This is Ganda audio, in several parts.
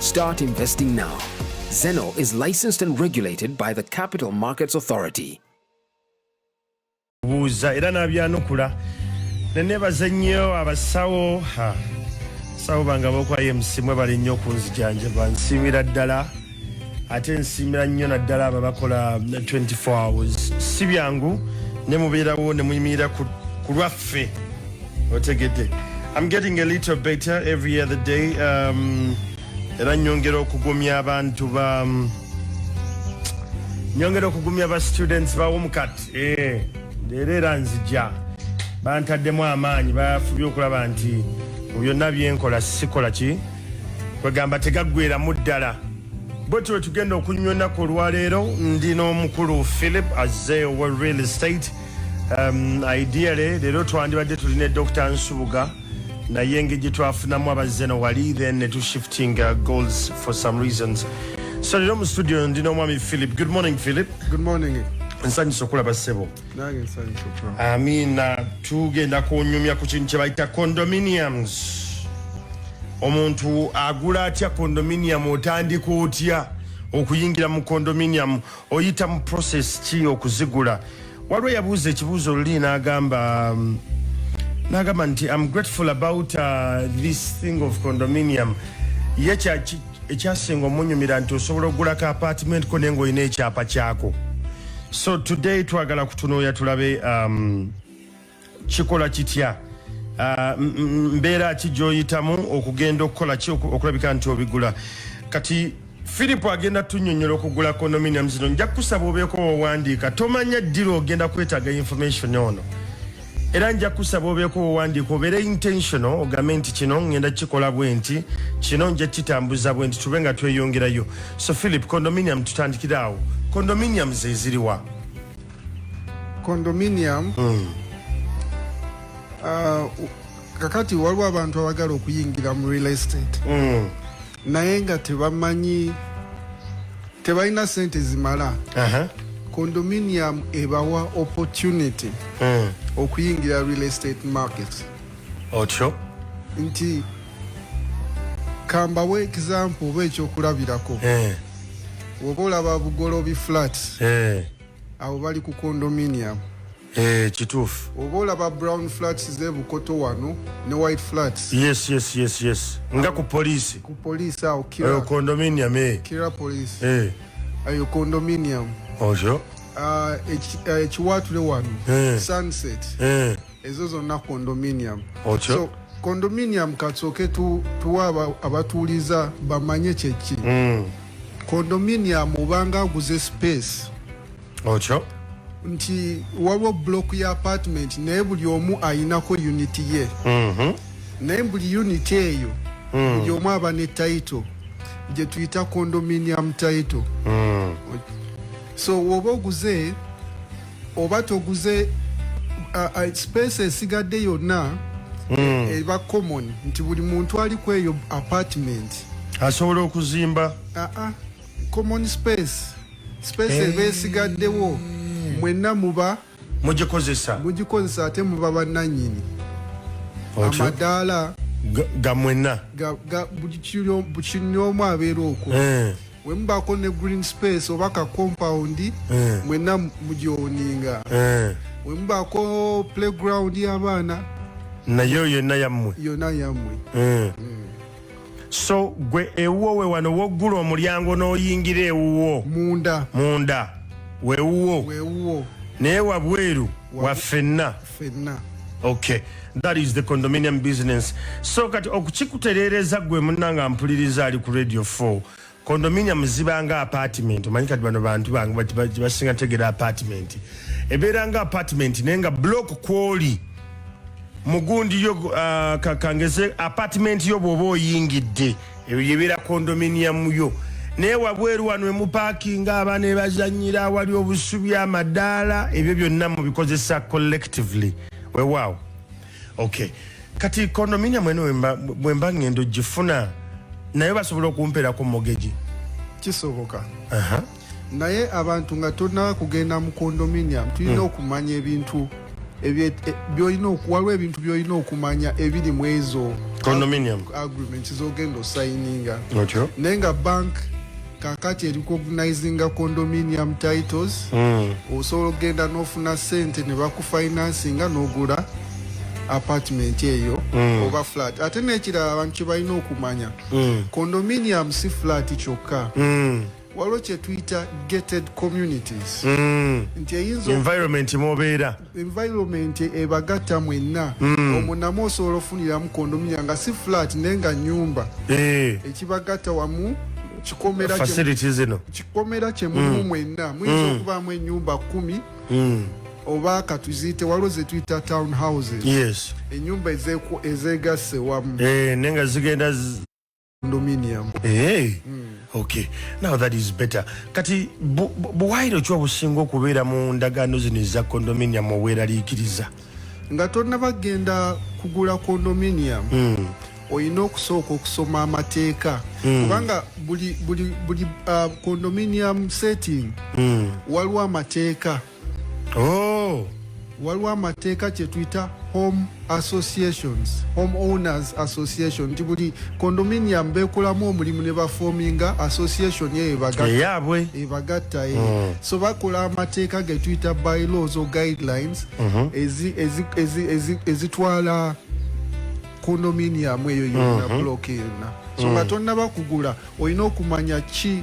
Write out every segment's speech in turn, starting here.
Start investing now. Zeno is licensed and regulated by the Capital Markets Authority. buuza era n'abyanukula ne nebaza nnyo abasawo ha, sawo bange abokwayo msimwe bali nnyo okunzijanjaba nsiimira ddala ate nsiimira nnyo naddala abo abakola 24 hours si byangu ne mubeerawo ne muyimirira ku ku lwaffe otegedde I'm getting a little better every other day um, era nyongera okugumya abantu ba um, nyongera okugumya ba students bawomukat eh, leero era nzija bantaddemu amaanyi bafubye okulaba nti byonna byenkola sikola ki kwegamba tegaggweramu ddala bwetyo wetugenda okunywa ennaku olwaleero ndi n'omukulu philip azze owa real estate Um, ideally leero twandibadde tuli ne dr nsubuga naye engeri gye twafunamu abazze no wali then ne tushifting uh, goals for some reasons so leero mu studio ndi n'omwami philip good morning philip good morning nsanyusa okulaba ssebo amina tugenda kunyumya ku kintu kye bayita condominiums omuntu agula atya condominium otandika otya okuyingira mu condominium oyita mu process ki okuzigula waliwo yabuuza ekibuuzo luli nagamba mm, nagamba nti am grateful about uh, this thing of condominium ye ekyasinga omunyumira nti osobola okugula ka apartment ko naye ngaolina ekyapa kyako so today twagala kutunuuya tulabe um, kikola kitya ah, mbeera ki gyoyitamu okugenda okukola ki okulabika nti obigula kati philip agenda tunyonyola okugula condominium zino nja kukusaba obeeko wowandiika tomanya ddira ogenda kwetaaga information ono era nja kusaba obeeko wowandiika obeere intentional ogambe nti kino ngenda kikola bwe nti kino nja kitambuza bwe nti tube nga tweyongerayo so philip condominium tutandikire awo condominium zeziriwa condominium mm. uh, kakati waliwo abantu abagala okuyingira mu real estate mm. naye nga tebamanyi tebalina sente zimala uh -huh. condominium ebawa opportunity mm. okuyingira real estate market otyo nti kambawo example oba ekyokulabirako eh. woba olaba bugolobi flats eh. awo bali ku condominium eh, kituufu oba olaba brown flats zebukoto wano ne white flats yes, yes, yes, yes. nga ku poliisi ku poliisi awo kira condominium eh. kira poliisi eh. ayo condominium oyo ah, ekiwaatule wano sunset ezo zonna condominium Ocho. so condominium katsooke tu, tuwa aba- abatuuliza bamanye kyeki mm. condominium obanga aguze space okyo nti waliwo block ya apartment naye buli omu ayinako unit ye Mhm. naye buli unit eyo Mm. buli omu aba ne title gye tuyita condominium title Mm. so woba oguze oba toguze uh, uh, space esigadde yonna mm. Eh, eba common nti buli muntu ali kweyo apartment asobola okuzimba uh -uh. common space space hey. eba esigaddewo mwenna muba mugikozesa mugikozesa ate muba bannanyini amadaala gamwenna buli kinyomu abeera okwo eh. wemubaako ne green space oba ka compound eh. mwena mugyoninga eh. wemubaako playground yabaana nayo yonna yammwe yonna yammwe eh. mm. so gwe ewuwo we wano woggula omulyango n'oyingira ewuwo munda munda wewuwo wewuwo naye wabweru waffenna fenna okay that is the condominium business so kati okukikutereereza gwe munna nga mpuliriza ali ku radio 4 condominium zibanga apartment omanyi kati bano bantu bange basinga tegera apartment ebeera nga apartment naye nga block kwoli mugundi yo uh, kakangeze apartment yo bwoba oyingidde ebyo gyebeera kondominiyamu yo naye wabweru wano emupakinga abaana ebazanyira awali obusubi amadaala ebyo byonna mubikozesa collectively wewaawo ok kati kondominiyamu eno bwemba ngendo gifuna naye basobola okumperako mogegi kisoboka uh -huh. naye abantu nga tolina kugenda mu condominium tulina hmm. okumanya ebintu e, waliwo ebintu byolina okumanya ebiri mu ezo agreement zogenda osayininga naye nga bank kakati ericognizinga condominium titles hmm. osobola okugenda nofuna sente nebakufinansinga nogula apartment eyo mm. oba flat ate nekirala abantu kyebalina okumanya mm. condominium si flat kyokka mm. waliwo kyetuyita gated communities mm. nti eyinza environment mwobeera environment ebagatta mwenna mm. omunamu osobola ofuniramu kondominia nga si flat naye nga nyumba eh. ekibagatta wamu kikomera zino kikomera kyemumu mm. mwenna muyinza mm. okubaamu enyumba kumi mm. oba katuziyite waliwo zetuyita town houses yes enyumba ezegasse wamu eh, naye nga zigenda condominium hey. Eh, mm. okay now that is better kati buwaire okiwa businga okubeera mu ndagaano zino eza condominium oweraliikiriza nga tonaba genda kugula condominium mm. olina okusooka okusoma amateeka mm. kubanga buli, buli, buli uh, condominium setting mm. waliwo amateeka oh. waliwo amateeka kyetuyita home associations home owners association nti buli condominium bekolamu omulimu ne bafominga association eyo ebagattaeyabwe ebagatta eh. mm. so bakola amateeka getuyita by laws o guidelines mm-hmm. ezitwala condominium eyo yonna mm-hmm. block yonna so nga mm. tonnabakugula olina okumanya ki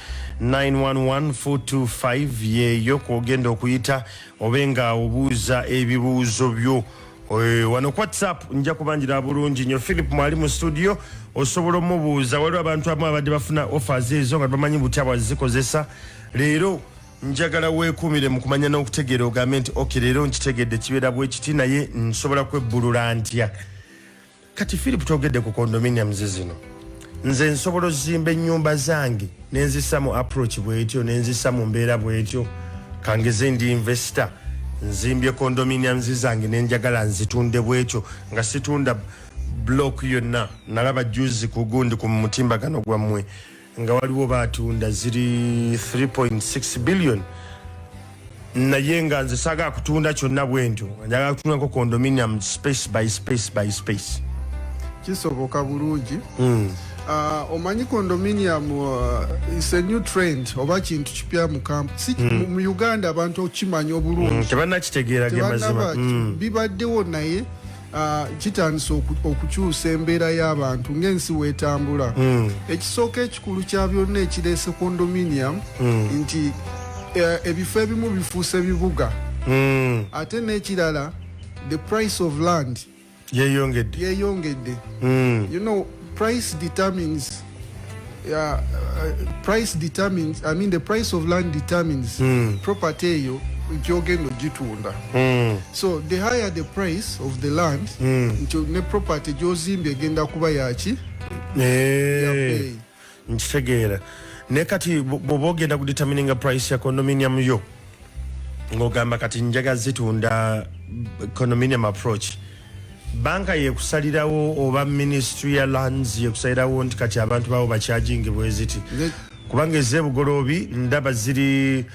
911425 yeeyo kwogenda okuyita obe nga obuuza ebibuuzo byo eh, wano ku whatsapp nja kubanjira bulungi nyo philip mwali mu studio osobola omubuuza waliwo abantu abamu abadde bafuna offers ezo nga bamanyi butya bwazikozesa leero njagala weekuumire mu kumanya n'okutegeera ogambe nti ok leero nkitegedde kibeera bwekiti naye nsobola kwebbulula ntya kati philip togedde ku condominiums zino nze nsobola ozimba enyumba zange nenzisa mu approach bwetyo nenzisa mu mbeera bwetyo kangeze ndi investor nzimbye condominiums zange nenjagala nzitunde bwetyo nga situunda block yonna nalaba juzi kugundi ku mutimbagano gwammwe nga waliwo batunda ziri 3.6 billion naye nga nze saga kutunda kyonna bwentyo njaga kutunda nko condominium space by space by space kisoboka bulungi mm. uh, omanyi condominium uh, is a new trend oba kintu kipya mu camp si mm. mu uganda abantu okimanya obulungi mm, tebanakitegeera gemazima mm. bibaddewo naye Ah, kitandise okukyusa embeera y'abantu ng'ensi weetambula hmm. ekisooka ekikulu kya byonna ekireese condominium hmm. nti eh, ebifo ebimu bifuuse bibuga hmm. ate n'ekirala the price of land yeyongedde you know price determines Yeah, uh, price determines, I mean the price of land determines mm. property eyo nkyogenda ogitunda mm. so the higher the price of the land mm. nkyo ne property gyozimbye egenda kuba yaki eh, nkitegeera naye kati bwoba ogenda kudetermininga price ya condominium yo ng'ogamba kati njaga zitunda condominium approach banka yekusalirawo oba ministry ya lands yekusalirawo nti kati abantu bawo bakyajingi bweziti kubanga ezebugoloobi ndaba ziri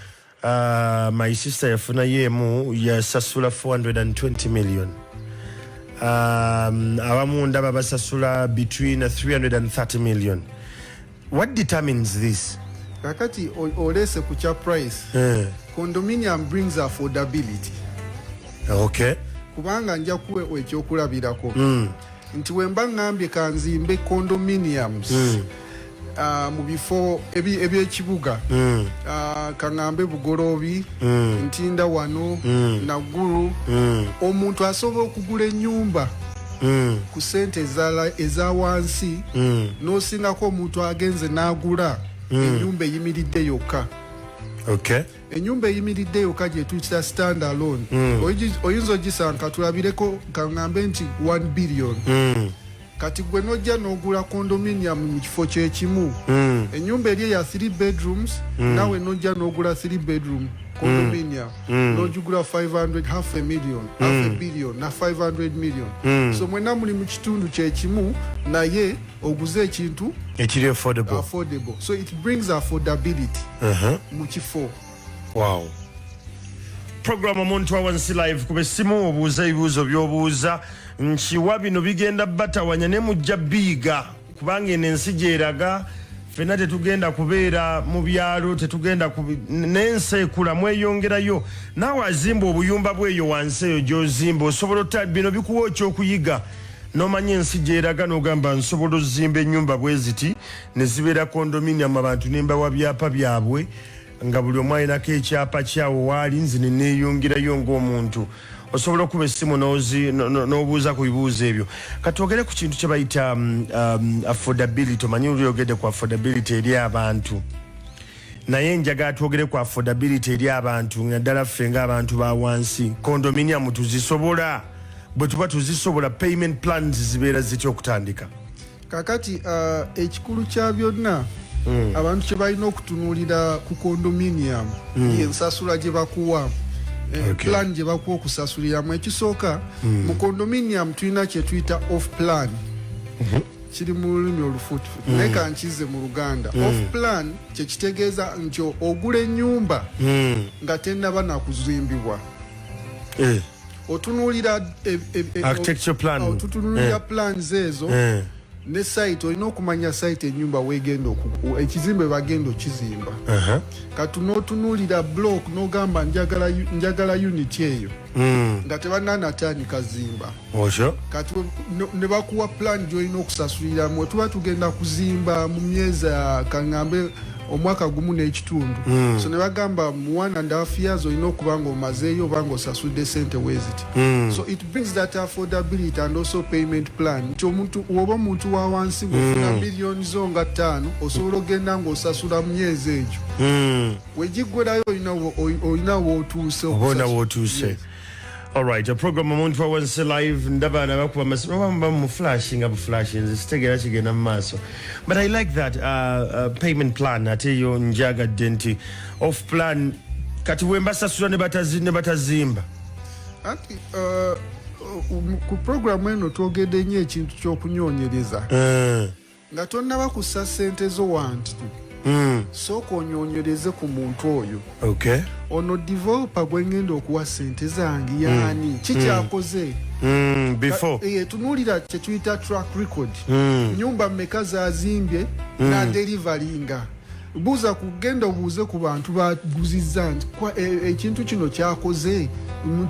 uh, my sister yafunayo emu yasasula 420 million um, abamu ndaba basasula between 330 million What determines this? Kakati olese ku kya price. Eh. Condominium brings affordability. Okay. Kubanga nja kuwe ekyokulabirako. Mm. Nti wemba ngambye kanzimbe condominiums. Mm. Uh, mu bifo ebyekibuga ebi mm. uh, kaŋambe bugoloobi mm. ntinda wano mm. naggulu mm. omuntu asobola okugula ennyumba mm. ku sente eza wansi mm. nosingako omuntu agenze nagula mm. enyumba eyimiridde yokka okay. enyumba eyimiridde yokka gyetuyitira stand alone mm. oyinza ogisanka tulabireko kaŋambe nti 1 billion mm. kati gwe nojja nogula condominium mu kifo kyekimu mm. enyumba eri eya 3 bedrooms mm. nawe nojja nogula 3 bedroom condominium mm. mm. nojugula 500 half a million mm. half a mm. billion na 500 million mm. so mwena muli mu kitundu kyekimu naye oguze ekintu ekiri affordable. affordable so it brings affordability uh -huh. mu kifo wow program omuntu awansi live kuba essimu obuuza ebibuuzo byobuuza nkiwa bino bigenda batawanya ne mujja biiga kubanga eno ensi gyeraga fena tetugenda kubeera mu byalo tetugenda nensi ekula mweyongerayo naawe azimba obuyumba bweyo wansi eyo gyozimba osobola ota bino bikuwa okyokuyiga nomanya ensi gyeraga nogamba nsobola ozimba enyumba bweziti nezibeera condominium abantu nembawa byapa byabwe nga buli omu alinako ekyapa kyawo waali nze neneyongerayo ngaomuntu osobola okuba essimu n'obuuza ku bibuuzo ebyo katwogere ku kintu kyebayita um, um, affordability omanyi olyogedde ku affordability eri abantu naye njaga atwogere ku affordability eri abantu naddala ffe ngaabantu ba wansi condominium tuzisobola bwe tuba tuzisobola payment plans zibeera zitya okutandika kakati uh, ekikulu kya byonna mm. abantu kye balina okutunuulira ku condominium mm. ensasula gye bakuwa eh, okay. plan gye bakuwa okusasuliramu ekisooka mm. mu condominium tulina kye tuyita off plan mm -hmm. kiri mu lulimi olufutufu mm. naye kankize mu luganda mm. off plan kye kitegeeza nti ogula ennyumba mm. nga tennaba nakuzimbibwa eh. otunuulira e, e, e, eh, plans ezo eh. ne site olina okumanya site enyumba wegenda ekizimba ebagenda okizimba uh-huh. kati notunuulira block nogamba njagala unit eyo hmm. nga tebananatandika zimba kati nebakuwa plan gyolina okusasuliramu tuba tugenda kuzimba mu myezi kangambe omwaka gumu n'ekitundu mm. so ne bagamba mu one and half years olina okuba nga omazeeyo oba nga osasudde sente weziti mm. so it brings that affordability and also payment plan nti omuntu woba omuntu wa wansi ngofuna mm. miliyoni zo nga ttaano osobola okugenda ngaosasula mu myezi egyo mm. wegiggwerayo olina wootuuse oba olina wootuuse yes. Alright, a program omuntu wawansi live ndaba nabakuba masimu oba muba mu flash nga buflash nze sitegeera kigenda mu maaso but i like that uh, uh, payment plan ate yo njagadde nti off plan kati wembasasula ne batazimba anti uh, uh, ku programu eno twogedde nyo ekintu kyokunyonyereza uh. nga tonnaba kussa ssente zo wantu hmm. sooka onyonyereze ku muntu oyo ono developa gwe ngenda okuwa ssente zange hmm. yaani hmm. kikyakoze eh, tunuulira kyetuyita track record nyumba mmeka zazimbye nadelivaringa buuza kugenda obuuze ku bantu baguzizza nti eh, ekintu kino kyakoze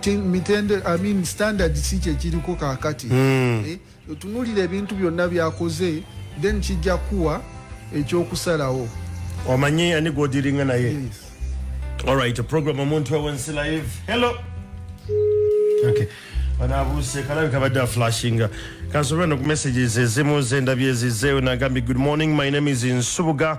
mitende amin standard si kyekiriko kakati eh, otunulira ebintu byonna byakoze then kijja kuwa ekyokusalawo omanyi ani gwodiringa naye yes. alright program omuntu ewensi live hello okay banabuuse kalabika badde aflashinga kansobera no ku messages ezimu zendabyezizeewo nagambye good morning my name is nsubuga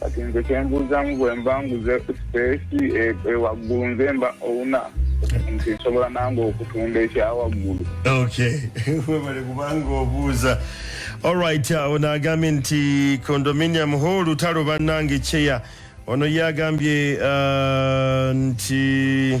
kati nze kyembuuzamu bwemba nguze sipeesi ewaggulu nze mba owuna nti nsobola nange okutunda ekyawaggulu okay webale kubanga obuuza olrit awo nagambye nti condominium ho olutalo bannange cheya ono ye agambye uh, nti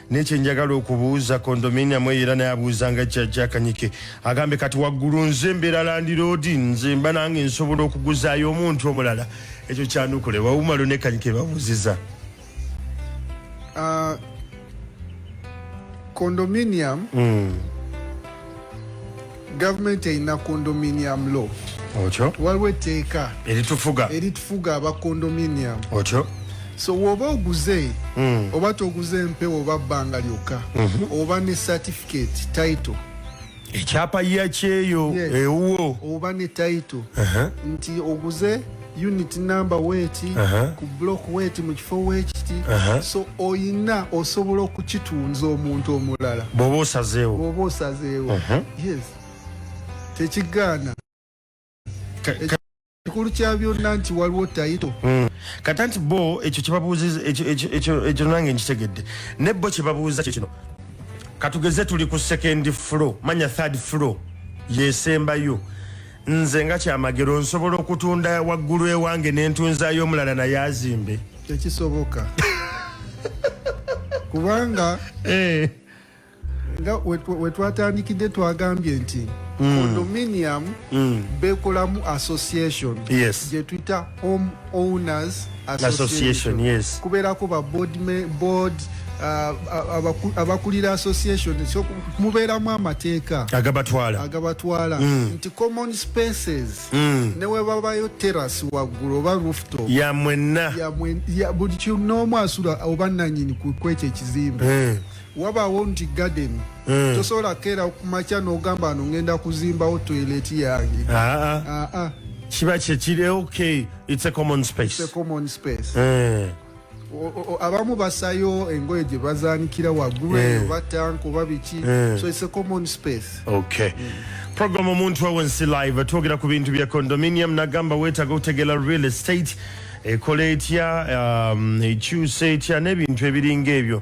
nekye njagala okubuuza kondominia mwe era naye abuuzanga jjajja kanyike agambe kati waggulu nze mbeera landiroodi nze mba nange nsobola okuguzaayo omuntu omulala ekyo kyanukule wawumalo ne kanyike babuuziza uh, condominium mm. government erina condominium law otyo waliwo etteeka eritufuga eritufuga aba condominium otyo so woba oguze mm. oba toguze empewo oba bbanga lyokka mm -hmm. oba ne certificate title ekyapa yakyeyo yes. ewuwo oba ne title uh -huh. nti oguze unit number weti uh -huh. ku block weti mu kifo wekiti uh -huh. so oyina osobola okukitunza omuntu omulala bwoba osazeewo bwoba osazeewo uh -huh. yes tekigaana ekikulu kya byonna nti waliwo tayito mm. kata nti bo ekyo kyebabuuziza ekyo nange nkitegedde ne bo kyebabuuza kyo kino katugeze tuli ku second floor manya third floor yesembayo Nze nga kyamagero nsobola okutunda waggulu ewange nentunzayo omulala naye azimbe tekisoboka kubanga eh. nga wetwatandikidde twagambye nti mm. condominium mm. bekolamu association yes. gyetuyita home owners association yes kubeerako ba board me, board uh, abakulira association so mubeeramu amateeka agabatwala agabatwala mm. nti common spaces mm. newebabayo terrace waggulu oba rooftop ya mwenna buli kinoomu asula oba nanyini kwekyo ekizimbe mm. wabaawo nti garden mm. tosobola keera kumakya nogamba no ngenda kuzimbawo toilet yange ah, ah. ah, kiba kyekiri okay it's a common space, it's a common space. Mm. abamu basayo engoye gye bazanikira waggulu eyo eh. batanka oba biki eh. so it's a common space okay mm. program omuntu wawe nsi live twogera ku bintu bya condominium nagamba wetaga okutegela real estate ekola etya um, ekyusa etya n'ebintu ebiringa ebyo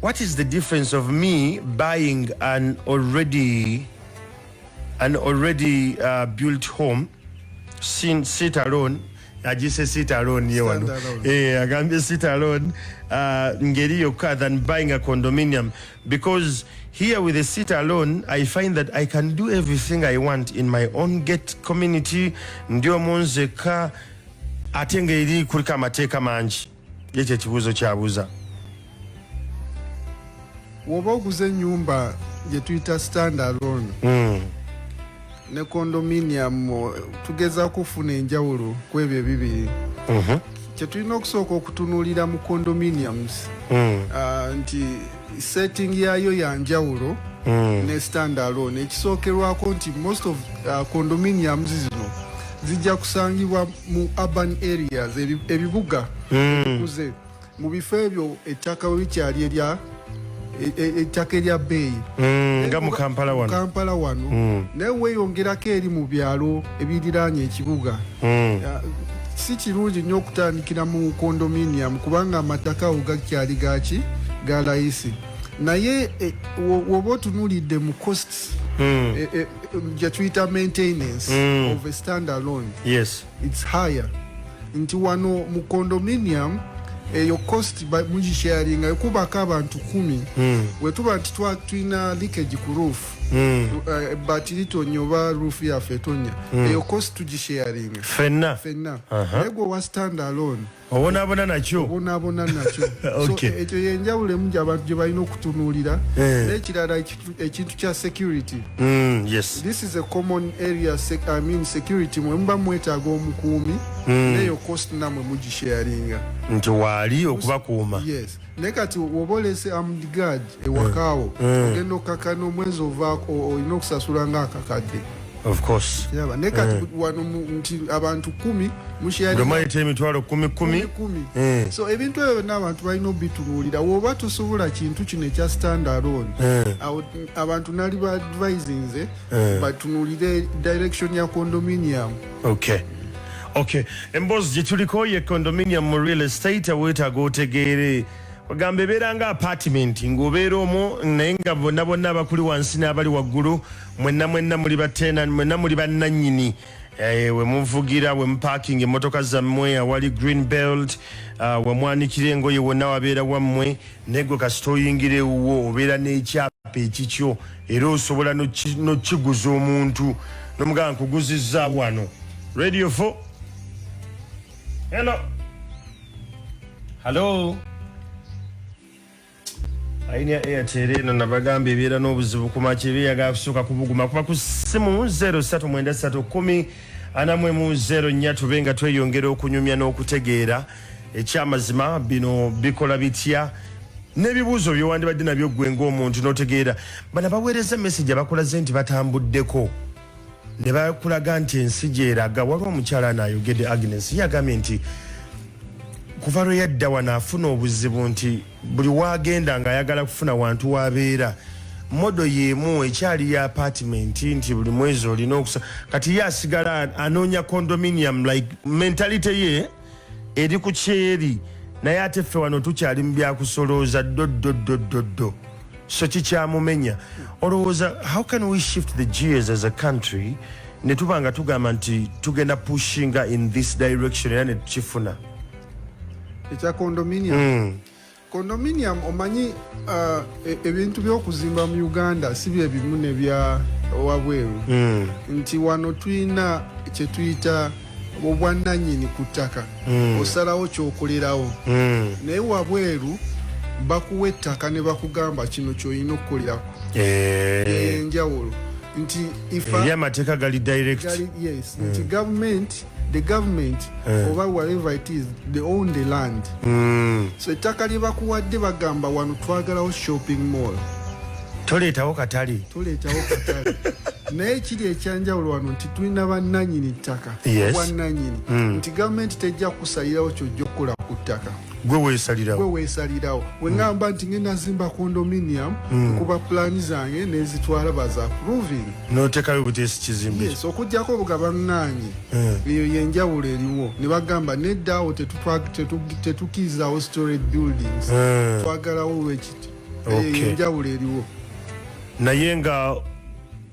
What is the difference of me buying an already an already uh, built home sin sit alone ajise sit alone ye wano eh agambye sit alone uh, ngeri yokka than buying a condominium because here with a sit alone i find that i can do everything i want in my own gate community ndio monzeka ate ngeri kulika amateeka mangi ye kyekibuuzo kyabuuza woba oguze enyumba gyetuyita stand alone mm. ne condominium tugeza kufuna enjawulo kwebyo ebibiri mm -hmm. kyetulina okusooka okutunuulira mu condominiums mm. uh, nti setting yayo ya njawulo mm. ne stand alone ekisookerwako nti most of uh, condominiums zino zijja kusangibwa mu urban areas ebibuga mm. ebikuze mm. mu bifo ebyo ettaka bwe bikyali erya e, e, ettaka erya bbeeyi mm, nga mu kampala wano naye weeyongerako eri mu byalo ebiriraanya ekibuga mm. uh, si kirungi nnyo okutandikira mu condominium kubanga amataka awo gakyali gaki ga layisi naye eh, woba otunulidde mu costs mm. eh, eh, gyetuyita maintenance mm. of a stand alone yes. its higher nti wano mu condominium eyo cost mugisharinga ekubako abantu kumi mm. wetuba nti tulina likage ku roof mm. uh, ebbaati litonnya oba ruufu yaffe etonya mm. eyo kosi tugisharinga fenna fenna naye gwe owa stand alone obonaabona nakyo obonaabona nakyo so ekyo yenjawulo emu gyabantu gye balina okutunuulira eh. n'ekirala ekintu kya security mm, yes this is a common area i mean security mwe muba mwetaaga omukuumi mm. neyo kosi namwe mugisharinga nti waali okubakuuma yes naye kati woba olese amdgad ewakaawo eh, eh. ogenda okukakana omwezi ovaako olina okusasula nga akakadde kiraba naye kati eh. wano nti abantu kumi mushiyaomayita emitwalo kumi kumi kumi so ebintu ebyo byonna abantu balina obitunuulira woba tusobola kintu kino ekya standalon abantu nali baadvisinze batunuulire direction ya condominium okay okay emboozi gye tuliko ye condominium mu real estate weetaaga otegeere ogamba ebeera nga apartment ng'obeera omwo naye nga bonna bonna abakuli wansi n'abali waggulu mwenna mwenna muli batena mwenna muli bannannyini eh, we muvugira we muparking emmotoka zammwe awali green belt uh, we mwanikira engoye wonna wabeera wammwe naye gwe kasita oyingira ewuwo obeera n'ekyapa ekikyo era osobola nokiguza omuntu nomugamba nkuguziza wano radio 4 hello hallo aini ya airtel eno nabagamba ebeera n'obuzibu kumaki ebe yagala kusooka kubuguma kuba ku simu 031 anamwemu 0 nya tube nga tweyongera okunyumya n'okutegeera no ekyamazima bino bikola bitya n'ebibuuzo byewandibadde nabyo ggwe ng'omuntu n'otegeera bana baweereza message abakulaze nti batambuddeko ne bakulaga nti ensi gyeraga waliwo omukyala naayogedde agnes yagambye nti kuva lwe yadda wano afuna obuzibu nti buli waagenda ng'ayagala kufuna wantu wabeera modo yemu ekyali ya apartment nti buli mwezi olina okusa kati ye asigala anoonya condominium like mentality ye eri ku kyeri naye ate ffe wano tukyali mu byakusolooza ddoddoddoddoddo so kikyamumenya olowooza how can we shift the gears as a country ne tuba nga tugamba nti tugenda pushinga in this direction era ne tukifuna ekya condominium mm. Condominium omanyi uh, e, ebintu uh, byokuzimba mu Uganda si bye bimu ne bya wabweru mm. nti wano tulina kyetuyita obwannanyini ku ttaka mm. osalawo kyokolerawo mm. naye wabweru bakuwa ettaka ne bakugamba kino kyolina okukolerako eh. eh, enjawulo nti amateeka gali direct yes, mm. nti gavumenti the government eh. oba whatever it is they own the land mm. so ettaka lye bakuwadde bagamba wano twagalawo shopping mall toleetawo katale toleetawo katale naye kiri ekyanjawulo wano nti tulina bannanyini ttaka yes. bwannanyini mm. nti gavumenti tejja kusalirawo kyojja okukola ku ttaka gwe wesalirawo gwe wesalirawo we ngamba nti ngenda nzimba condominium mm. kuba plan zange nezitwala baza approving notekayo butesi kizimbe yes okujjako obugaba nganyi mm. eyo yenjawulo eriwo ne bagamba nedda awo tetukiizawo storage buildings mm. twagalawo wekiti okay. enjawulo eriwo naye nga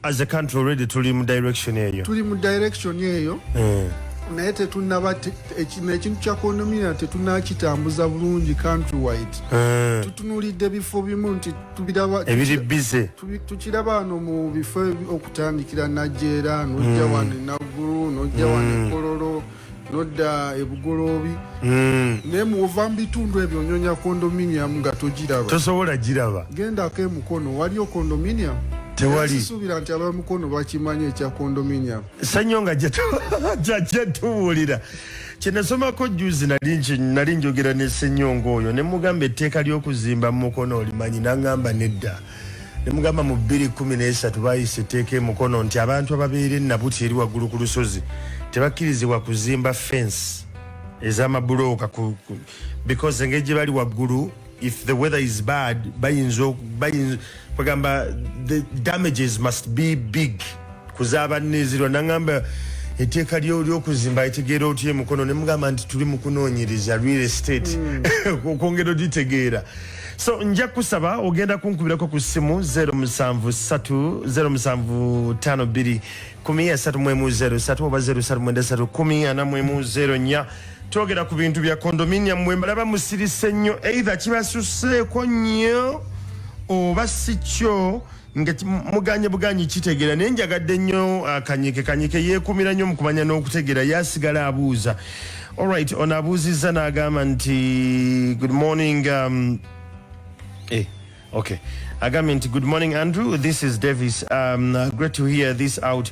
as a country already tuli mu direction eyo tuli mu direction eyo mm. naye tetunaba ekintu kya kondomina tetunakitambuza bulungi country wide mm. tutunulidde bifo bimu nti ebiri bize tukiraba wano mu bifo okutandikira najera nojja mm. wano enaggulu nojja wano ekololo mm. nodda ebugoloobi hmm. naye muwova mu bitundu ebyo onyonya condominium nga togiraba tosobola giraba gendako emukono waliyo condominium tewalisubira nti abamukono bakimanyi ekya condominium sanyo nga jetuwulira kyenasomako juzi nali njogera ne senyonga oyo nemugamba etteeka lyokuzimba mumukono olimanyi nangamba nedda nemugamba mu bbiri kumi n'esatu bayisa etteeka emukono nti abantu ababeera ennabuti eri waggulu ku lusozi tebakkirizibwa kuzimba fensi ez'amabulooka because engeri gye bali waggulu if the weather is bad bayinza bagamba the damages must be big kuzabanezirwa nangamba eteeka lyokuzimba etegeera otya emukono nemugamba nti tuli mukunoonyereza real estate hmm. okwongera ogitegeera mm. so nja kusaba ogenda kunkubirako ku ssimu 0753 1 oba 0 twogera ku bintu bya kondominium mwe mbalaba musirise nnyo eitha kibasuseeko nnyo oba si kyo nga muganye buganyi kitegeera naye njagadde nnyo uh, kanyike kanyike yeekuumira nnyo mu kumanya n'okutegeera ye asigala abuuza allright ono abuuzizza n'agamba nti good morning um, eh, okay agambye nti good morning andrew this is davis um, great to hear this out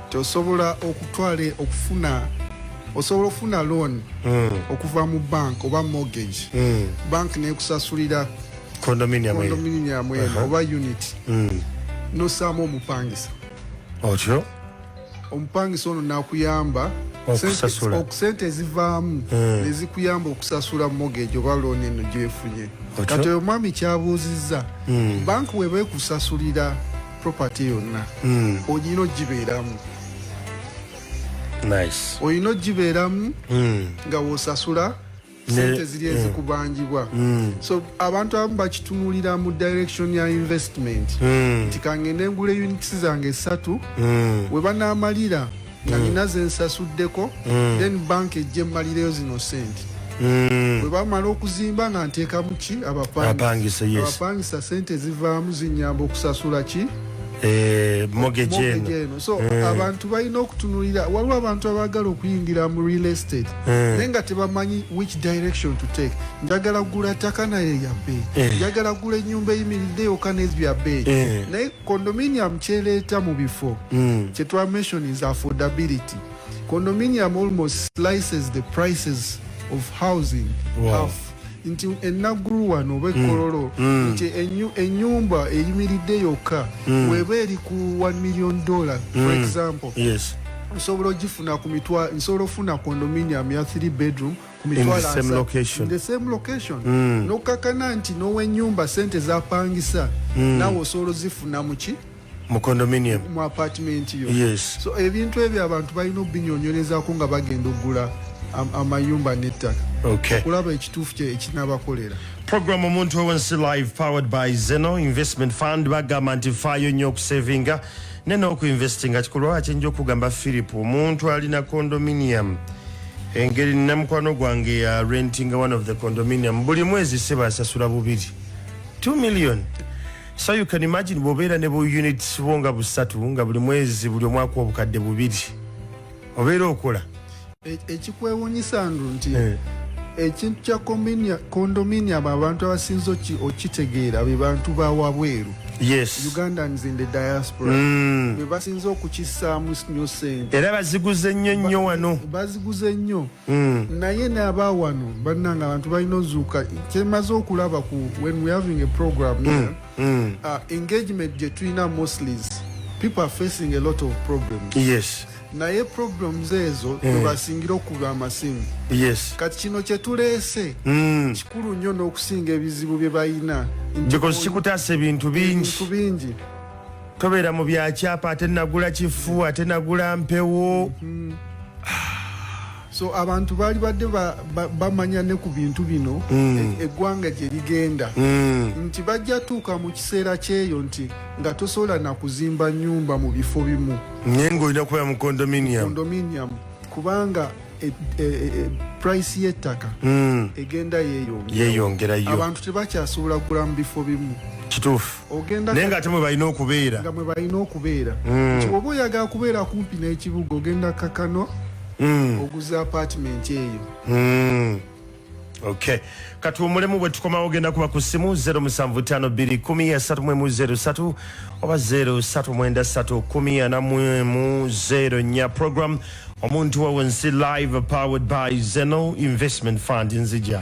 tosobola okutwale okufuna osobola okufuna loan mm. okuva mu bank oba mortgage mm. bank nekusasulira condominium condominium uh -huh. oba unit mm. nosaamu omupangisa otyo omupangisa ono nakuyamba okusente ezivaamu mm. nezikuyamba okusasula mortgage oba loan eno gyefunye kati oyo mwami kyabuuzizza mm. bank weba ekusasulira property yonna hmm. olina ogibeeramu olina ogibeeramu hmm. nga wosasula sente ziri hmm. ezikubanjibwa so abantu abamu bakitunulira mu direction ya investment nti kangende ngula units zange esatu webanaamalira nga mm. nina zensasuddeko mm. then banka ejja emmalireyo zino sente mm. bwe bamala okuzimba nga nteekamu ki abapangisa sente zivaamu zinyamba okusasula ki eh, mogejeeno so abantu balina okutunulira waliwo abantu abaagala okuyingira mu real estate naye nga tebamanyi which direction to take njagala kugula ttaka naye yabeeyi eh. njagala kugula ennyumba eyimiridde yoka nezbyabeeyi eh. condominium kyeleeta mu bifo mm. kyetwamation is affordability condominium almost slices the prices of housing wow. half nti enaggulu wano oba hmm. ekkololo hmm. nti enyumba eyimiridde yokka hmm. weba eri ku 1 million dollar for example osobola ogifuna ku mitwa nsobola ofuna condominium ya 3 bedroom kumitwalocation mm. nokakana nti nowenyumba sente zapangisa mm. nawe osobola ozifuna muki mu condominium mu apartment yo yes. so ebintu ebyo abantu balina obinyonyolezako nga bagenda okugula amayumba nettaka okay. okulaba ekituufu ekinabakolera program omuntu owensi live powered by zeno investment fund bagamba nti faayo nnyo okusevinga ne n'okuinvestinga kikulwa kyenja okugamba philip omuntu alina condominium engeri namukwano gwange ya renting one of the condominium buli mwezi seba asasula bubiri 2 million so you can imagine bobeera ne bu units bo nga busatu nga buli mwezi buli omwaka obukadde bubiri obeera okola e, ekikwewunyisa ndu nti eh. ekintu kya condominium abantu abasinza okitegeera be bantu bawabweru yes. ugandans in the diaspora mm. bebasinze okukisaamu nyo sente era baziguze nnyo nnyo wano baziguze nnyo mm. naye naaba wano bannanga abantu balina ozuuka kyemaze okulaba ku when we having a program mm. yeah, mm. uh, engagement gye tulina mosleys people are facing a lot of problems yes naye problems ezo eh. webasingira okuba amasimu yes. kati kino kyetuleese mm. kikulu nnyo n'okusinga ebizibu bye balina because kikutaasa ebintu bingi bingi tobeera mu byakyapa ate nagula kifu ate nagula mpewo mm -hmm. so abantu baali badde bamanya ne ku bintu bino mm. e, eggwanga gye ligenda mm. nti bajja tuuka mu kiseera kyeyo nti nga tosobola na kuzimba nyumba mu bifo bimu naye ngaolina kubeera mu condominium kubanga e, e, e, price y'ettaka mm. egenda yeyongerayo abantu tebakyasobola kugula mu bifo bimu kituufu naye nga ate mwe balina okubeera nga mwe balina okubeera mm. nti oba oyagala kubeera kumpi n'ekibuga ogenda kakano mm. oguza apartment eyo mm. okay kati omulemu bwe tukomawo ogenda kuba ku simu 07521330 oba 0393 nya program omuntu wawe nsi live powered by zeno investment fund nzija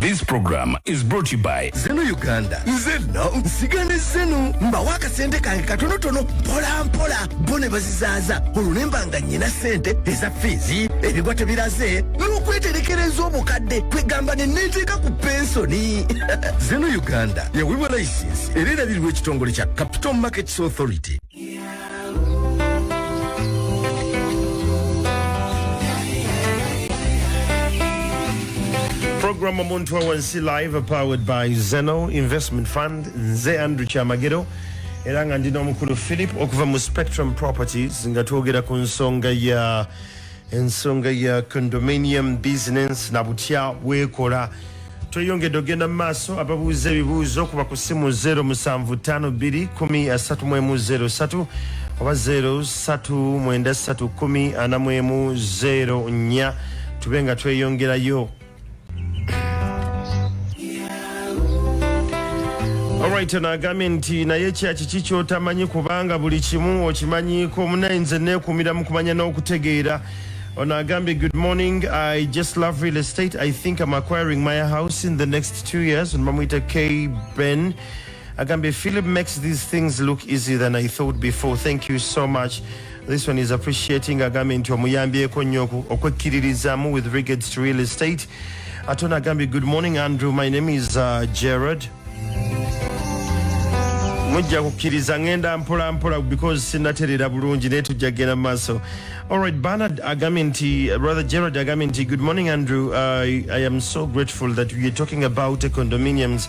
This program is brought to you by zeno uganda nze no nsiga ne zeno mbawo akasente kange katonotono mpola mpola bo ne bazizaaza olwo ne mba nga nnyina ssente eza fiizi ebigwa tebiraze n'okweterekereza obukadde kwegamba ne neeteeka ku pensoni zeno uganda yawebwa layisinsi era erabirirwa ekitongole kya capital markets authority program omuntu wawansi live powered by zeno investment fund nze andrew kyamagero era nga ndi n'omukulu philip okuva mu spectrum properties nga twogera ku nsonga ya ensonga ya condominium business na butya weekola tweyongedde ogenda mu maaso ababuuza ebibuuzo kuba ku simu 07521330 oba 039314 tube nga tweyongerayo Alright ono agambye nti naye kyaki ki kyotamanyi kubanga buli kimu okimanyiiko munaye nze neekuumira mu kumanya n'okutegeera ono agambye good morning i just love real estate i think am acquiring my house in the next two years ono bamuyita k ben agambye philip makes these things look easy than i thought before thank you so much This one is appreciating agambye nti omuyambyeko nnyo okwekkiririzaamu with regards to real estate ate ono agambye good morning andrew my name is uh, gerard mujja kukkiriza ngenda mpolampola because sinaterera bulungi naye tujja kugenda mu maaso allright banard agambye nti brother gerard agambye nti good morning andrew uh, i am so grateful that weare talking about condominiums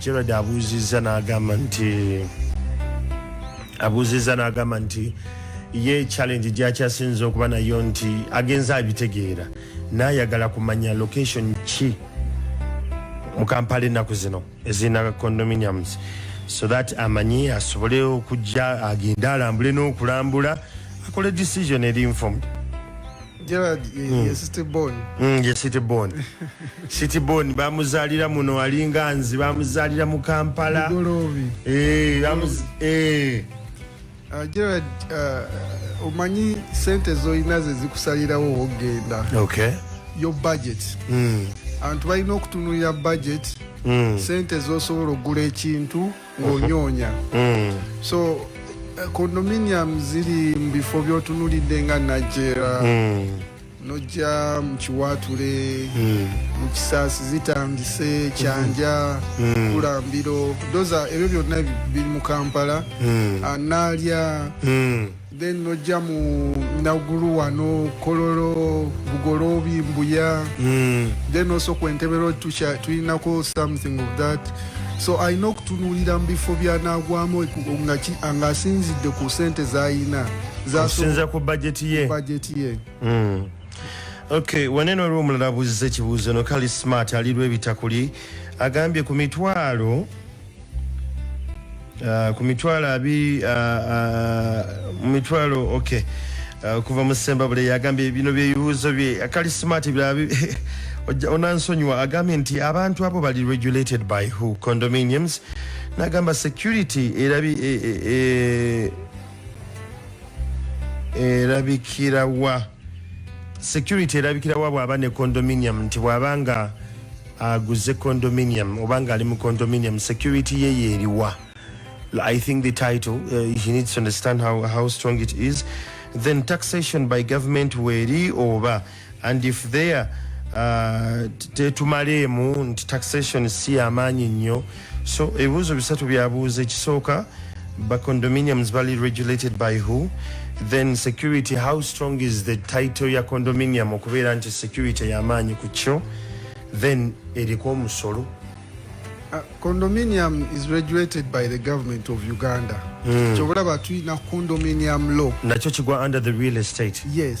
Gerald abuuzizza n'agamba nti abuuzizza n'agamba nti ye challenge gyakyasinza okuba nayo nti agenza abitegeera nayagala kumanya location ki mu kampala ennaku zino ezirina condominiums so that amanyi asobole okujja agende alambule n'okulambula akole decision eri informed Gerard ye, mm. ye city born. Mm, ye city born. city born bamuzalira muno alinga nzi bamuzalira mu Kampala. Golobi. Eh, bamuz eh. Uh, Gerard uh, omanyi sente zoyina ze zikusalirawo ogenda. Okay. Your budget. Mm. Abantu balina okutunulira budget. Mm. Sente zosobola okugula ekintu. ng'onyoonya mm. so eh, condominium ziri mu bifo by'otunulidde nga najera mm. nojja mu kiwaatule mm. mu kisaasi zitandise kyanja mm. kulambiro doza ebyo byonna biri mu kampala mm. anaalya ah, mm. then nojja mu nagulu wano kololo bugoloobi mbuya mm. then also ku entebero tulinako something of that so alina okutunuulira mu bifo byanagwamu ng'asinzidde ku sente zalina zasinza ku bajeti ye bajeti ye mm. ok wanene waliwo omulala abuuziza ekibuuzo no kali smart alirwa ebitakuli agambye ku mitwalo Uh, ku mitwalo abiri uh, uh, mu mitwalo ok uh, kuva mu sembabule yagambye bino byebibuuzo bye akali smart biraba onansonyiwa agambye nti abantu abo bali regulated by who condominiums nagamba security erabi e, e, e, erabikirawa security erabikirawa bwaba ne condominium nti bwaba nga aguze condominium oba nga ali mu condominium security ye yeriwa i think the title uh, he needs to understand how, how strong it is then taxation by government weri oba and if there uh, tetumaleemu nti taxation si yamaanyi nnyo so ebibuuzo bisatu byabuuza ekisooka ba condominiums bali regulated by who then security how strong is the title ya condominium okubeera nti security yamaanyi ku kyo then eriko omusolo Uh, condominium is regulated by the government of uganda mm. kyobalaba tulina condominium law nakyo kigwa under the real estate yes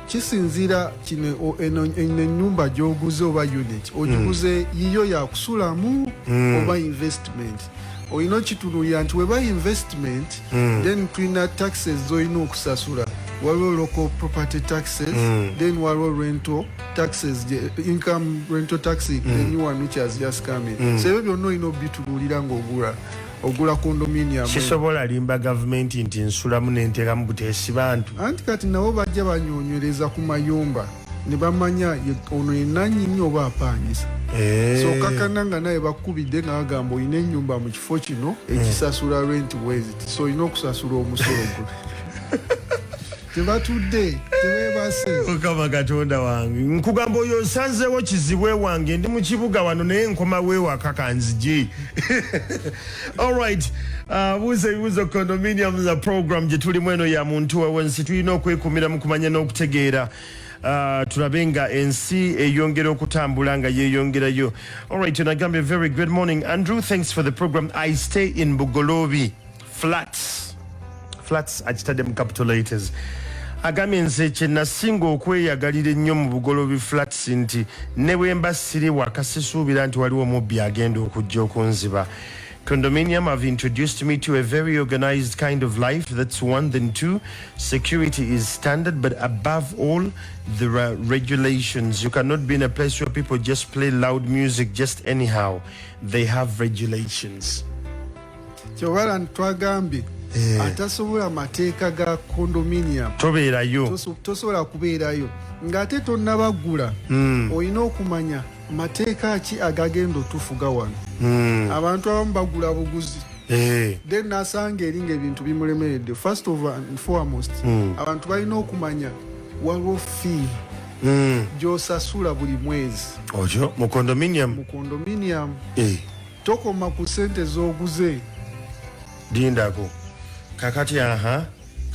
kisinziira kino eno enyumba gyoguze oba unit ogiguze mm. yiyo yakusulamu mm. oba investment olina okitunulira nti weba investment mm. then tulina taxes zolina okusasula waliwo local property taxes mm. then waliwo rental taxes income rental tax mm. the new one which has just come in mm. so ebyo byonna olina obitunulira ngaogula ogula condominium sisobola limba gavumenti nti nsulamu nenteramu buteesi bantu anti kati nabo bajja banyonywereza ku mayumba ne bamanya ono yenanyini oba apangisa eh. so kakana nga naye bakubidde nga bagamba olina enyumba mu kifo kino ekisasula rent wezit so olina okusasula omusolo gwe tebatudde tebebase mukama katonda wange nkugamba oyo nsanzewo kizibwe wange ndi mukibuga wano naye nkoma wewaka kanziji alright uh, buuza ebibuuzo condominium za program gyetulimu eno ya muntu wewensi tulina okwekumira mu kumanya n'okutegeera Uh, tulabe nga ensi eyongera okutambula nga yeyongerayo alright nagambye very good morning andrew thanks for the program i stay in bugolobi flats flats akitadde mu capitolators agambye nze kyenasinga okweyagalira ennyo mu bugolobi flats nti ne bwemba siri waka sisuubira nti waliwo omubbi agenda okujja okunziba Condominium have introduced me to a very organized kind of life. That's one. Then two, security is standard, but above all, there are regulations. You cannot be in a place where people just play loud music just anyhow. They have regulations. kyobalan twagambye eh. atasobola mateeka ga condominium tobeerayo tosobola kubeerayo ng'ate tonnabaggula hmm. olina okumanya mateeka ki agagenda otufuga wano hmm. abantu abamu bagula buguzi eh. then nasanga eri ngaebintu bimulemeredde first of foremost hmm. abantu balina okumanya waliwo fee gyosasula buli mwezi oyo mu condominium mu condominium eh. Tokoma ku sente zoguze. Dindako. Kakati aha.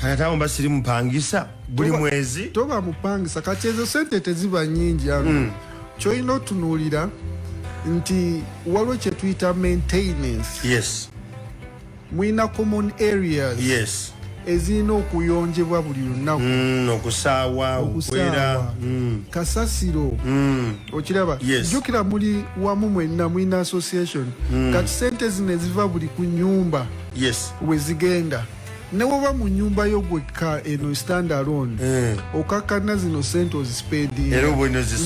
Kakati awo mbasiri mupangisa. Buli mwezi. Toba mupangisa. Kati ezo sente teziba nyingi ya. Mm. Choino tunulira. Nti walo chetwita maintenance. Yes. mulina common areas yes ezirina okuyonjebwa buli lunaku mm, okusaawa okwera mm. kasasiro mm. okiraba yes. jukira muli wamu mwenna mulina association mm. kati sente zino eziva buli ku nyumba yes. wezigenda newoba mu nyumba yo gwekka eno stand alone mm. okakkanna zino sente ozisipendinga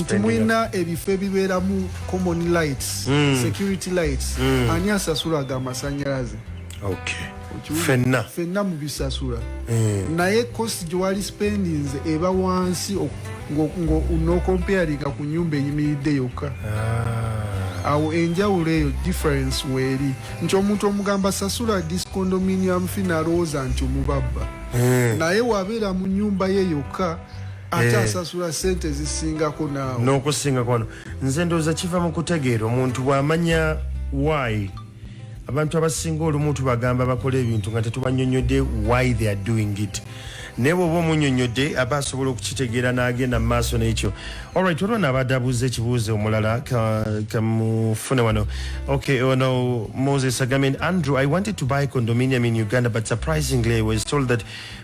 nti mulina ebifo ebibeeramu common lights mm. security lights mm. ani asasula aga amasanyalaze okay. fenna fenna mubisasula mm. naye kosi gyewali spendings eba wansi nokomparinga ku nyumba eyimiridde yokka ah. awo enjawulo eyo difference weeri nti omuntu omugamba sasula discondominium fi nalowooza nti omubabba mm. naye wabeera mu nyumba ye yokka ate eh. asasula sente zisingako naawe nokusingako nze ndowooza kiva mu kutegeera omuntu bw'amanya why abantu abasinga olumu tubagamba bakola ebintu nga tetubanyonyodde why they are doing it naye bwoba omunyonyodde aba asobola okukitegeera n'agenda mu maaso n'ekyo olright olwo naabadde abuuza ekibuuzo omulala kamufune wano okay ono moses agambye andrew i wanted to buy condominium in uganda but surprisingly i was told that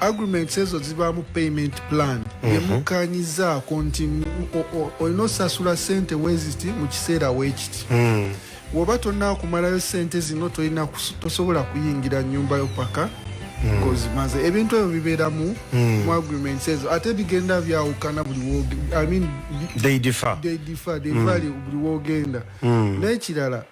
agreements ezo zibaamu payment plan mhm. yemukkanyizaako nti olina osasula sente weziti mu kiseera weekiti hmm. woba tonakumalayo sente zino tolina tosobola kuyingira nyumba yo paka hmm. kozimaze ebintu ebyo bibeeramu hmm. mu agreements ezo ate bigenda byawukana buli wogenda buli wogenda n'ekirala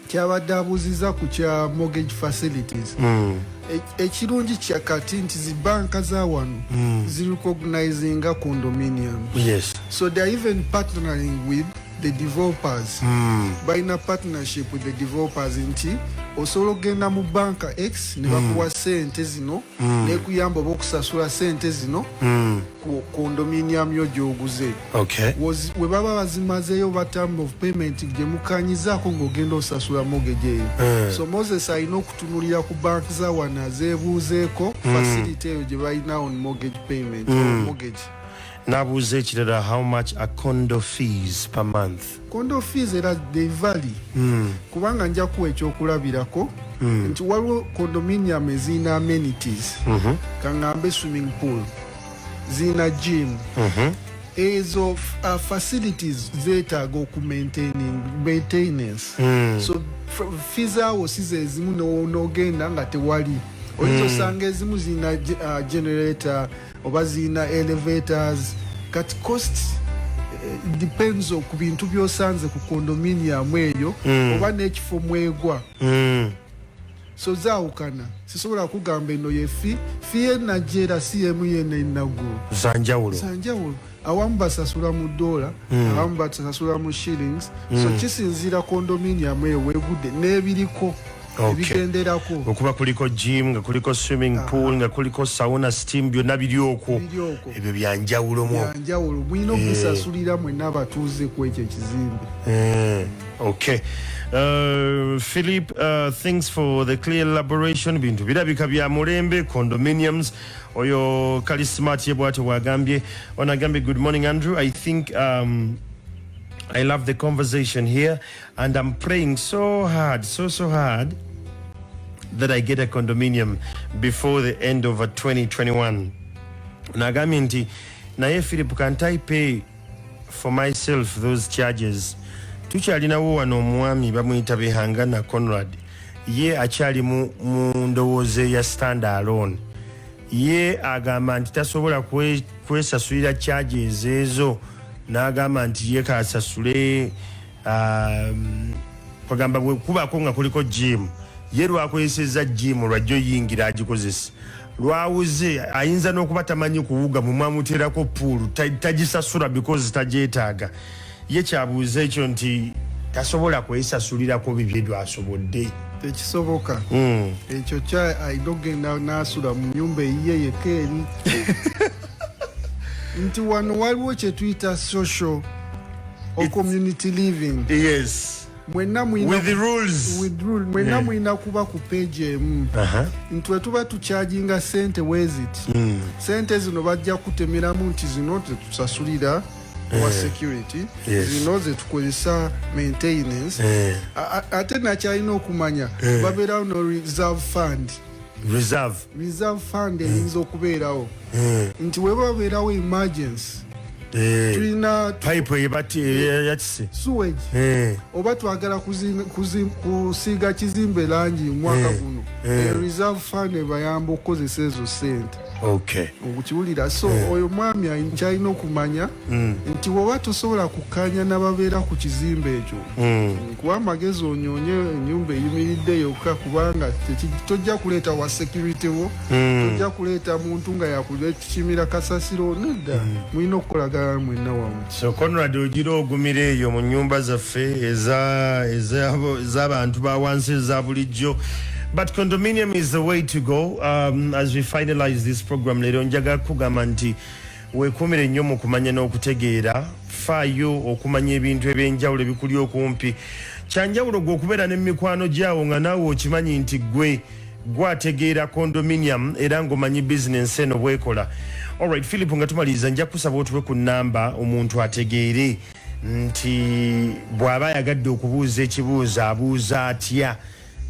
kyabadde abuuzizza ku kya mortgage facilities mm. e, ekirungi kya kati nti zi banka za wano mm. zi recognizinga condominium yes. so they are even partnering with the developers mm. balina partnership with the developers nti osobola okugenda mu banka x ne bakuwa mm. sente zino mm. nekuyamba oba okusasula sente zino mm. ku condominium yo gyoguze okay. webaba bazimazeyo oba term of payment gyemukanyizaako ngaogenda osasula mogeje eyo mm. so moses alina okutunulira ku bank za wana zebuuzeeko mm. facility eyo gyebalina on mortgage payment mm. mortgage nabuuza ekirala how much a condo fees per month condo fees era they vary mm. kubanga nja kuwa ekyokulabirako mm. nti waliwo condominium ezirina amenities mm -hmm. kangambe swimming pool zirina gym mm -hmm. ezo uh, facilities zetaaga okumaintainance mm. so fees awo size ezimu nogenda nga tewali oyinza hmm. osanga ezimu zirina uh, generator oba zirina elevators kati cost eh, depends ku bintu byosanze ku condominium eyo mm. oba n'ekifo mwegwa mm. so zaawukana sisobola kugamba eno yefi fi enajeera si emu yena enagu zanjawulo zanjawulo awamu basasula mu dola mm. abamu basasula mu shillings mm. so hmm. kisinziira condominium eyo wegudde n'ebiriko ebigenderako okay. okuba kuliko gym nga kuliko swimming ah. pool nga kuliko sauna steam byonna biri okwo ebyo byanjawulo mu byanjawulo mulina eh. okubisasulira yeah. mwenna abatuuze ku ekyo ekizimbe yeah. Hmm. okay uh, philip uh, thanks for the clear elaboration bintu birabika bya mulembe condominiums oyo kali smart ye bwatyo bwagambye ono agambye good morning andrew i think um, i love the conversation here and i'm praying so hard so so hard that i get a condominium before the end of 2021 nagambye nti naye philip can i pay for myself those charges tukyalinawo wano omwami bamuyita behangana conrad ye akyali mu ndowooza eya stand alone ye agamba nti tasobola kwesasulira charges ezo n'agamba nti ye kasasule um, kwagamba bwekubaako nga kuliko jimu ye lwakozeseza jimu lwajja oyingira agikozesa lwawuze ayinza n'okuba tamanyi kuwuga mwemwamuteerako puulu tagisasula because tagyetaaga ye kyabuuza ekyo nti tasobola kwesasulirako bibye dwasobodde tekisoboka hmm. ekyo kya ayina okugenda nasula mu nyumba eyiye yekka eri nti wano waliwo kyetuyita social or community living yes mwenna mulina kuba ku page emu uh-huh. nti wetuba tukyajinga sente wezit hmm. sente zino bajja kutemeramu nti zino tetusasulira eh. wa security zino zetukozesa maintenance eh. ate nakyalina okumanya eh. babeerawo no reserve fund reserve reserve fund eyinza mm. okubeerawo mm. nti weba wabeerawo emergency eh. tulina pipe eyebakise suwage eh. oba twagala kusiiga kizimbe langi mwaka eh. guno reserve fund ebayamba okukozesa ezo sente okay. okukiwulira so yeah. Hmm. oyo mwami kyalina okumanya mm. nti woba tosobola kukanya nababeera ku kizimba ekyo mm. kuba amagezi onyonye enyumba eyimiridde yokka kubanga tojja kuleeta wa security wo mm. tojja kuleeta muntu nga yakukimira kasasiro nedda hmm. mulina mm. okukolagana mwenna wamu so conrad ogira ogumira eyo mu nyumba zaffe ezabantu bawansi eza bulijjo but condominium is the way to go um, as we finalize this program lero njaga kugamba nti wekumire nnyo mu kumanya n'okutegeera faayo okumanya ebintu ebyenjawulo ebikuli okumpi kyanjawulo gwe okubeera ne mikwano gyawo nga naawe okimanyi nti gwe gwe ategeera condominium era ngomanyi bizinensi eno bwekola olright philip nga tumaliriza nja kusaba otuwe ku namba omuntu ategeere nti bw'aba ayagadde okubuuza ekibuuzo abuuza atya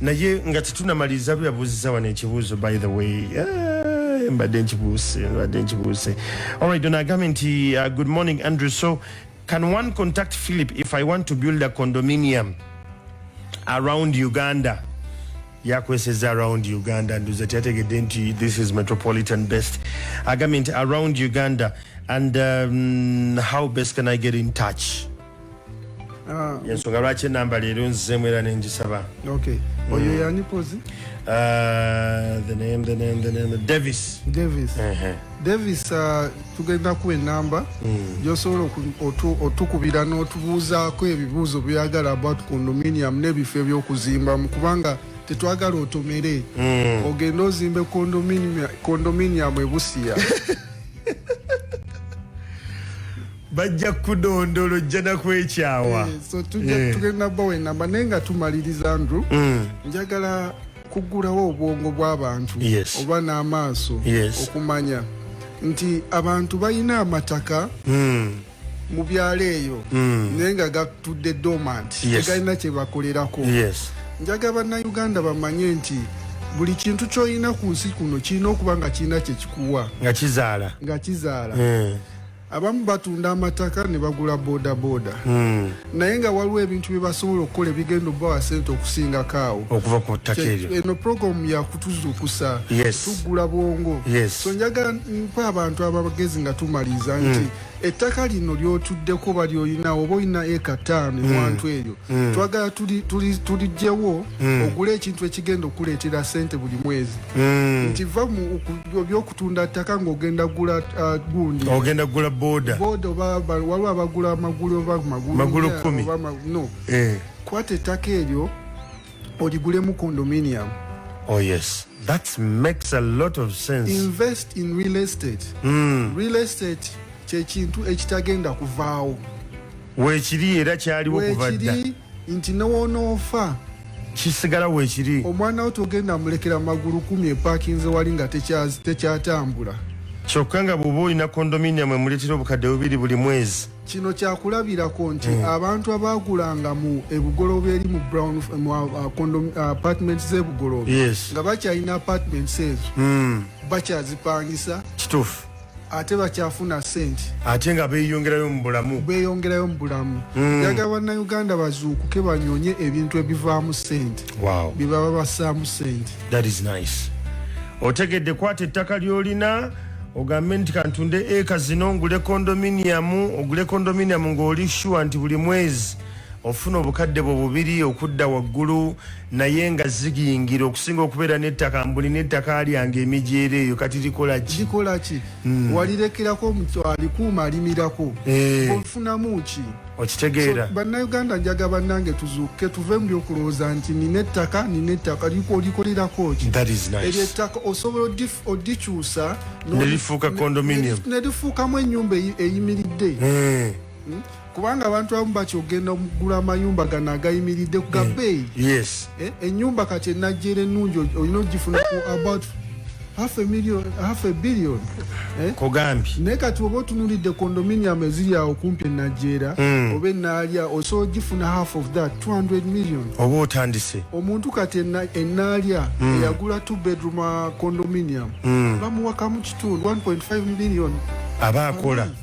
naye nga tetunamaliriza lwe yabuuziza wano ekibuuzo by the way eh, mbadde nkibuuse mbadde nkibuuse olright ono agambye nti uh, good morning andrew so Can one contact Philip if I want to build a condominium around Uganda? yakweseza around uganda nduza tyategedde nti this is metropolitan best agambye nti around uganda and um, how best can i get in touch ah. ensonga lwaki enamba leero nzizemu era nengisaba mm. uh, davis uh-huh. Davis uh, tugenda kuwa enamba mm. gyosobola otukubira n'otubuuzaako ebibuuzo byagala about condominium n'ebifo ebyokuzimbamu kubanga tetwagala otomere mm. ogende ozimbe condominium ebusiya bajja kudondolo jjana kwekyawa eh, so eh. tugenda bawa enamba naye nga tumaliriza ndru mm. njagala kuggulawo obwongo bw'abantu yes. oba n'amaaso yes. okumanya nti abantu balina amataka mm. mu byalo eyo mm. naye nga gatudde domant yes. tegalina kye bakolerako yes. njaga bannayuganda bamanye nti buli kintu kyolina ku nsi kuno kirina okuba nga kirina kyekikuwa nga kizaala nga kizaala mm. abamu batunda amataka ne bagula bodaboda hmm. naye nga waliwo ebintu bye basobola okukola ebigenda obubawa sente okusingako awo okuva ku ttaka eryo eno programu yakutuzuukusa tuggula bwongo so njagala mpa abantu abagezi nga tumaliza nti hmm. ettaka lino lyotuddeko oba lyolinawo oba olina eka taano hmm. ewantu eryo hmm. twagala tuligyewo hmm. ogule ekintu ekigenda okuleetera sente buli mwezi nti va byokutunda ttaka ng'ogenda gula uh, gundi ogenda gula boda boda oba waliwo abagula amagulu oba magulu kumi no eh. kwata ettaka eryo oligulemu condominium oh yes that makes a lot of sense invest in real estate mm. real estate kyekintu ekitagenda kuvaawo weekiri era kyaliwo kuva dda nti newonoofa kisigala wekiri omwana wo togenda mulekera magulu kumi epakinze wali nga tekyatambula tekya kyokka nga bwoba olina kondominium emuleetera obukadde bubiri buli mwezi kino kyakulabirako nti mm. abantu abaagulanga mu ebugoloba eri mu brown mu uh, uh, uh, apartment z'ebugoloba yes. nga bakyalina apartment ezo mm. bakyazipangisa kituufu ate bakyafuna sente ate nga beyongerayo mu bulamu beyongerayo mu bulamu hmm. yaga mm. bannayuganda bazuukuke banyonye ebintu ebivaamu sente wow. byebaba bassaamu sente that is nice otegedde kwata ettaka lyolina ogambe nti kantunde eka zino ngule kondominiamu ogule kondominiamu ngaoli shuwa nti buli mwezi ofuna obukadde bwe bubiri okudda waggulu naye nga zigiyingira okusinga okubeera nettaka mbuli nettaka lyange emijeera eyo kati likola ki likola ki mm. walirekerako alikuuma alimirako eh. ofunamu ki okitegeera so, bannayuganda njaga bannange tuzuuke tuve mu byokulowooza nti nina ettaka nina ettaka olikolerako ki eryo ettaka osobola odikyusa nelifuuka condominium nelifuukamu ennyumba eyimiridde eh. hmm? kubanga abantu abamu bakyogenda okugula amayumba gano agayimiridde ku gabeeyi eh, eh, enyumba kati enajjeera ennungi olina ogifuna ku about half a million half a billion eh kogambi ne kati obo tunulide condominium ezili ya okumpe na jera mm. obe na alia oso jifuna half of that 200 million obo otandise omuntu kati na enalia mm. ya gula two bedroom uh, condominium mm. bamu wakamu chitu 1.5 million abakola mm.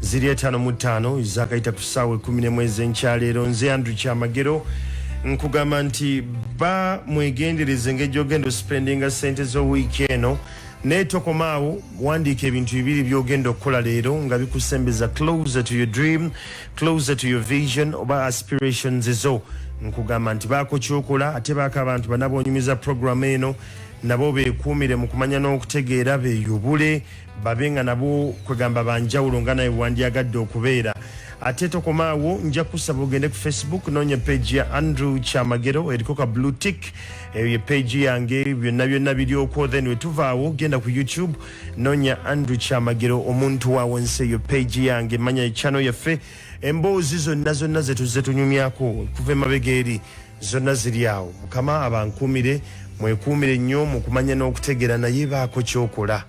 ziri etaano mu ttaano ezakayita ku ssaawa ekumi nemu ezenkyareero nze andrew kyamagero nkugamba nti ba mwegendereze engeri ogenda ospendinga sente z'owiiki eno naye tokomaawo wandiika ebintu bibiri byogenda okukola leero nga bikusembeza closer to your dream closer to your vision oba aspirations zo nkugamba nti baako kyokola ate baako abantu banabonyumiza programu eno nabo bekuumire mu kumanya n'okutegeera beyubule babe nga nabo kwegamba banjawulo nga naye wandyagadde okubeera ate tokoma awo nja kusaba ogende ku facebook noonya page ya andrew kyamagero eriko ka blue tick eyo ye page yange byonna byonna biryokwo then wetuvaawo genda ku youtube noonya andrew kyamagero omuntu waawo nsi eyo page yange manya channel yaffe emboozi zonna zonna zetuze tunyumyako kuva emabega eri zonna ziri awo mukama abankuumire mwekuumire nnyo mu kumanya n'okutegeera naye baako kyokola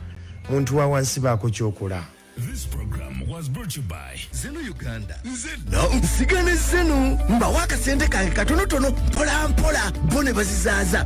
muntu wa wansi baako kyokola This program was brought to you by Zeno Uganda. Zeno nsigane Zeno mbawo akasente kange katonotono mpola mpola bo ne bazizaaza